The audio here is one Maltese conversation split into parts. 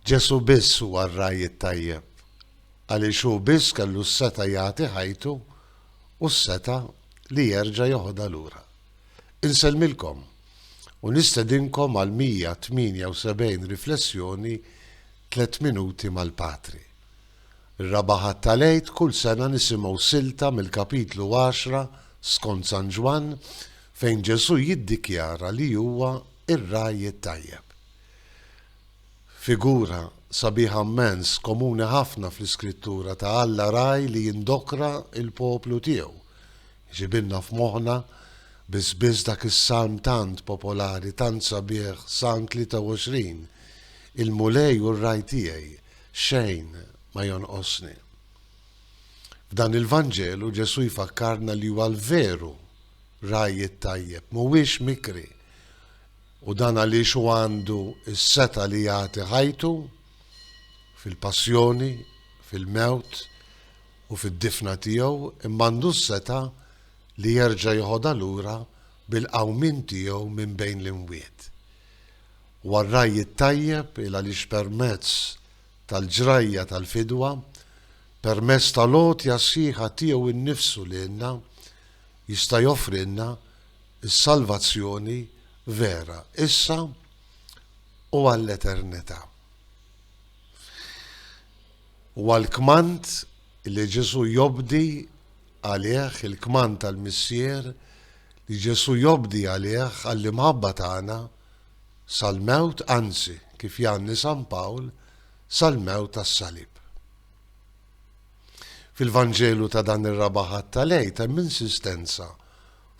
Ġesù biss huwa r-ragħaj it-tajjeb, għaliex hu biss kellu s-setgħa jagħti ħajtu u s-setgħa li jerġa' jeħodha lura. Insellmilkom u nistedinkom għal 178 riflessjoni Tliet Minuti mal-Patri. Ir-Raba' Ħadd tal-Għid kull sena nisimgħu silta mill-Kapitlu għaxra skont San Ġwann fejn Ġesù jiddikjara li huwa Ir-ragħaj it-tajjeb. Figura sabiħa mmens, komuni ħafna fl-Iskrittura, ta' Alla ragħaj li jindokra l-poplu tiegħu. Iġibilna f'moħħna biss biss dak is-salm tant popolari, tant sabiħ, Salm 23, Il-Mulej hu r-ragħaj tiegħi, xejn ma jonqosni. F'dan il-Vanġelu Ġesù jfakkarna li huwa l-veru Ragħaj it-tajjeb mhuwiex mikri, u dan għaliex hu għandu s-setgħa li jagħti ħajtu fil-passjoni, fil-mewt u fid-difna tiegħu, imma għandu s-setgħa li jerġa' jeħodha lura bil-qawmien tiegħu minn bejn l-imwiet. Huwa r-Ragħaj it-tajjeb il għaliex permezz tal-ġrajja tal-fidwa, permezz tal-għotja sħiħa tiegħu nnifsu lilna, jista' joffrilna s-salvazzjoni vera issa u għall-eternità. Huwa l-kmand li Ġesù jobdi għalih, il-kmand tal-Missier li Ġesù jobdi għalih għall-imħabba tagħna sal-mewt, anzi, kif jgħanni San Pawl, sal-mewt tas-salib. Fil-Vanġelu ta' dan ir-Raba' Ħadd tal-Għid hemm insistenza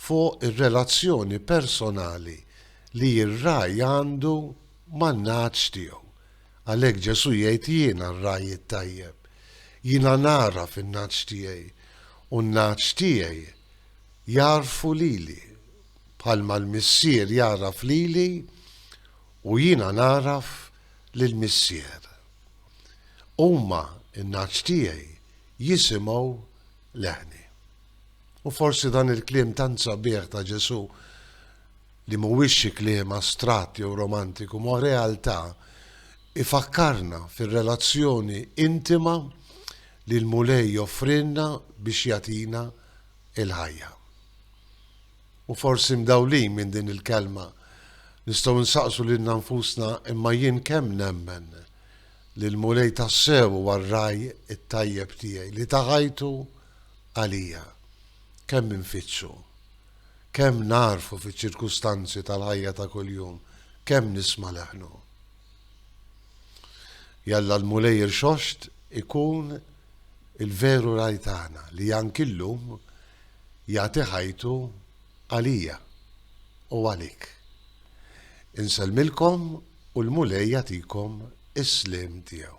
fuq ir-relazzjoni personali li r-ragħaj għandu man-nagħaġ tiegħu. Għalhekk Ġesù jgħid jiena r-ragħaj it-tajjeb. Jiena nagħraf in-nagħaġ tiegħi u n-nagħaġ tiegħi jagħrfu lili, bħalma l-Missier jagħraf lili u jiena nagħraf lill-Missier. Huma, in-nagħaġ tiegħi, jisimgħu leħni. U forsi dan il-kliem tant sabiħ ta' Ġesù, li mhuwiex xi kliem astratt jew romantiku, ma realtà, ifakkarna fir-relazzjoni intima li l-Mulej joffrilna biex jagħtina l-ħajja. U forsi mdawlin minn din il-kelma, nistgħu nsaqsu lilna nfusna, Imma jien kemm nemmen li l-Mulej tassew huwa r-ragħaj it-tajjeb tiegħi li ta ħajtu għalija? Kemm infittxu? Kemm nagħrfu fiċ-ċirkustanzi tal-ħajja ta' kuljum? Kemm nisma' leħnu? Jalla l-Mulej irxoxt ikun il-veru ragħaj tagħna li anki llum jagħti ħajtu għalija u għalik. Insellmilkom u l-Mulej jagħtikom is-sliem tiegħu.